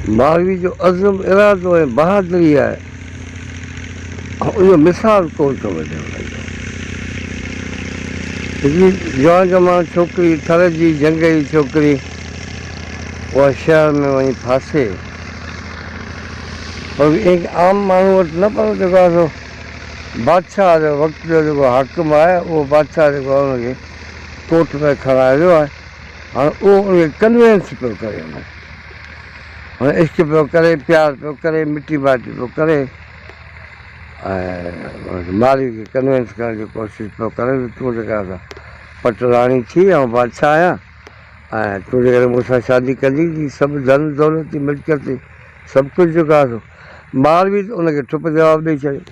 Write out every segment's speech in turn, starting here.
ماروي جو عزم، ارادو ۽ بهادري آهي ان جو مثال ڪونه ٿو ملي هن جو. هڪڙي جوان جماڻ ڇوڪري، ٿر جي جهنگيري ڇوڪري، اها شهر ۾ وڃي ڦاسي پر به ائين عام ماڻهو وٽ نه پر جيڪو آهي سو بادشاهه جو وقت جو جيڪو حاڪم آهي اهو بادشاهه جيڪو آهي ان کي ڪوٽ ۾ کڻائي ويو آهي هاڻ اهو ان کي ڪنوينس پيو ڪري هن هن عشق پيو ڪري پيار پيو ڪري مٽي مائٽي پيو ڪري ۽ مالهي کي ڪنوينس ڪرڻ جي ڪوشش پيو ڪري ته تون جيڪا سا پٽ راڻي ٿي آئون بادشاهه آهيان ۽ تون جيڪڏهن مون سان شادي ڪندي ته سڀ ڌن دولت ملڪيت سڀ ڪجهه جيڪو آهي سو مالهي ته ان کي ٺپ جواب ڏئي ڇڏيو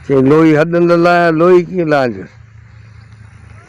چي لوئي حد نه لاهيان لوئي ڪيئن لاهيندس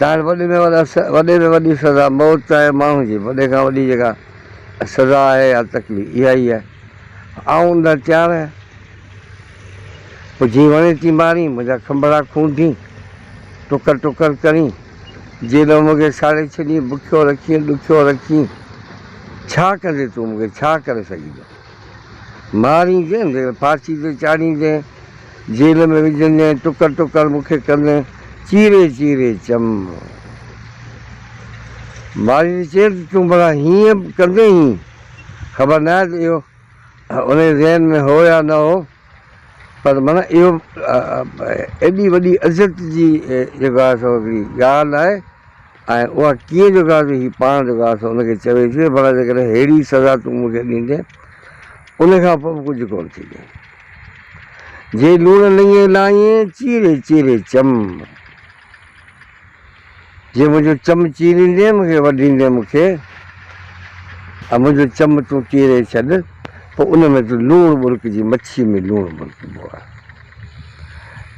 ظاهر وڏي ۾ وڏا وڏي ۾ وڏي سزا موت چاهي ماڻهو جي وڏي کان وڏي جيڪا سزا آهي يا تڪليف اها ئي آهي آئون ان لاء تيار آهيان پوء جي وڻي تي مارين منهنجا کنڀڙا کونڊين ٽڪر ٽڪر ڪرين جيڏو مون کي ساڙي ڇڏين بکيو رکين ڏکيو رکين ڇا ڪندي تون مون کي ڇا ڪري سگهين ماريندين ته ڦاسي تي چاڙهيندين، جيل ۾ وجهندين، ٽڪر ٽڪر مون کي ڪندين، چيري چيري چم ماري ته چير ته تون ڀلا هيئن به ڪندين ئي، خبر ناهي ته اهو انهي ذهن ۾ هو يا نه هو، پر معنيٰ اهو ايڏي وڏي عزت جي جيڪو آهي سو هڪڙي ڳالهه آهي. ۽ اها ڪيئن جو ڪا جو هي پاڻ جو ڪا سو ان کي چوي ٿي ته ڀلا جيڪڏهن ههڙي سزا تون مون کي ڏيندين ان کان پوء به ڪجهه ڪونه ٿيندين جي لوڻ لڱي لائين چيري چيري چم جي منهنجو چم چيريندين مون کي وڍيندين مون کي ۽ منهنجو چم تون چيري ڇڏ پوء ان ۾ تون لوڻ ٻرڪجي مڇي ۾ لوڻ ٻرڪبو آهي.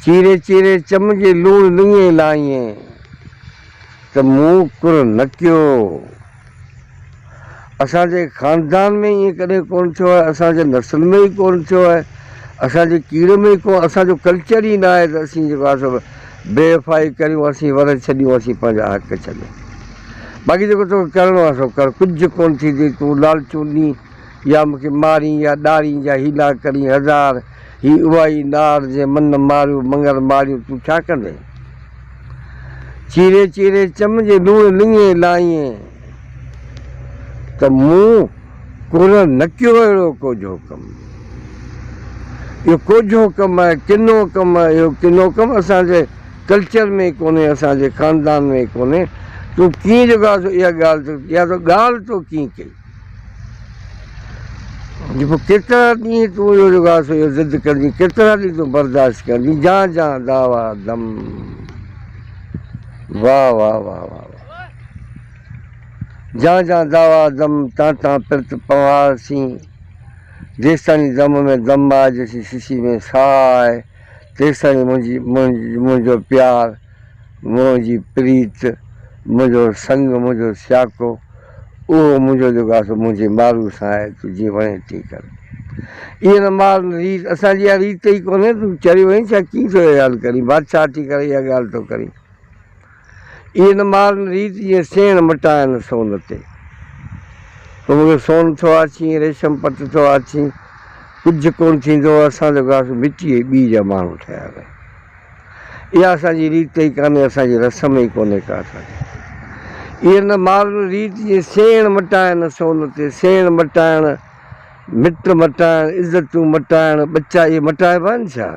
چيري چيري چم جي لوڻ لڱين لائين ته مون ڪر نه ڪيو. اسان جي خاندان ۾ ائين ڪڏهن ڪونه ٿيو آهي، اسان جي نسل ۾ ئي ڪونه ٿيو آهي، اسان جي ڪيڙ ۾ ئي ڪونه، اسان جو ڪلچر ئي ناهي ته اسين جيڪو آهي سو بي وفائي ڪريون، اسين ور ڇڏيون، اسين پنهنجا حق ڇڏيون. باقي جيڪو توکي ڪرڻو آهي سو ڪر، ڪجهه ڪونه ٿيندي، تون لالچون نينهن. يا مون کي مارين يا ڏارين يا هي نا ڪرين هزار هي اها ئي نار جنهن من نه ماريو مڱر ماريو تون ڇا ڪندين چيري چيري چم جي لوڻ لڱي لائين ته مون ڪونه نه ڪيو اهڙو ڪوجهو ڪم اهو ڪوجهو ڪم آهي ڪنو ڪم آهي اهو ڪنو ڪم اسان جي ڪلچر ۾ ڪونهي اسان جي خاندان ۾ ڪونهي تون ڪيئن جو ڳاهه سو اها ڳالهه يا تو ڳالهه تو ڪيئن ڪئي جو پوء ڪيترا ڏينهن تون اهو جيڪو آهي سو ضد ڪندين، ڪيترا ڏينهن تون برداشت ڪندين، جان جان دعويٰ دم. واهه واهه واهه واهه واهه. جان جان دعويٰ دم، تان تان پرت پنهار سين. جيستائين دم ۾ دم آهي، جيسين سسي ۾ ساهه آهي، تيستائين منهنجي منهنجو پيار. منهنجي پريت، منهنجو سڱ، منهنجو سياڪو، اهو منهنجو جيڪو آهي سو منهنجي مارو سان آهي، تون جيئن وڻين تيئن ڪر. ايئن نه مار نه ريت، اسان جي اها ريت ئي ڪونهي، تون چريو آهين ڇا، ڪيئن ٿو اها ڳالهه ڪرين، بادشاهه ٿي ڪري اها ڳالهه ٿو ڪرين. ايئن نه مار نه ريت، جيئن سيڻ مٽايان سون تي. تون مون کي سون ٿو آڇين، ريشم پٽ ٿو آڇين، ڪجهه ڪونه ٿيندو، اسان جيڪو آهي سو مٽيء جي ٻيء جا ماڻهو ٺهيل آهيون. اها اسان جي ريت ئي ڪانهي، اسان جي رسم ئي ڪونهي ڪا اسان جي. ايئن نه مارن ريت جي سيڻ مٽائڻ سون تي، سيڻ مٽائڻ، مٽ مٽائڻ، عزتون مٽائڻ، ٻچا اهي مٽائبا آهن ڇا؟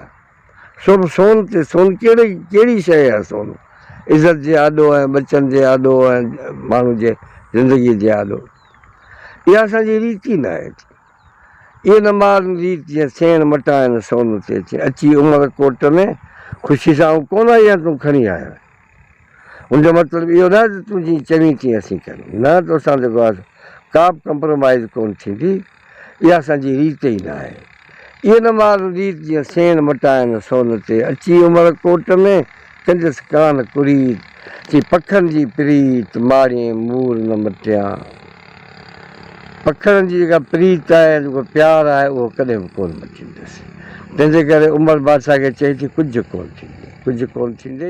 سو به سون تي، سون ڪهڙي ڪهڙي شيء آهي سون؟ عزت جي آڏو ۽ ٻچن جي آڏو ۽ ماڻهو جي زندگيء جي آڏو. اها اسان جي ريت ئي ناهي. اي نه مار ريت جيئن سيڻ مٽائن سون تي اچين اچي عمر ڪوٽ ۾ خوشي سان آئون ڪونه ايان تون کڻي آيو آهين ان جو مطلب اهو ناهي ته تون جيئن چوين تيئن اسين ڪريون نه تو سان جيڪو آهي ڪا به ڪمپرومائيز ڪونه ٿيندي اها اسان جي ريت ئي ناهي اي نه مار ريت جيئن سيڻ مٽائن سون تي اچي عمر ڪوٽ ۾. ڪنديس ڪان ڪريت، چي پکن جي پريت ماڙيين مور نه مٽيان. پکن جي جيڪا پريت آهي يا جيڪو پيار آهي اهو ڪڏهن به ڪونه مٽيندس. تنهنجي ڪري عمر بادشاهه کي چئي ٿي ڪجهه ڪونه ٿيندي، ڪجهه ڪونه ٿيندي.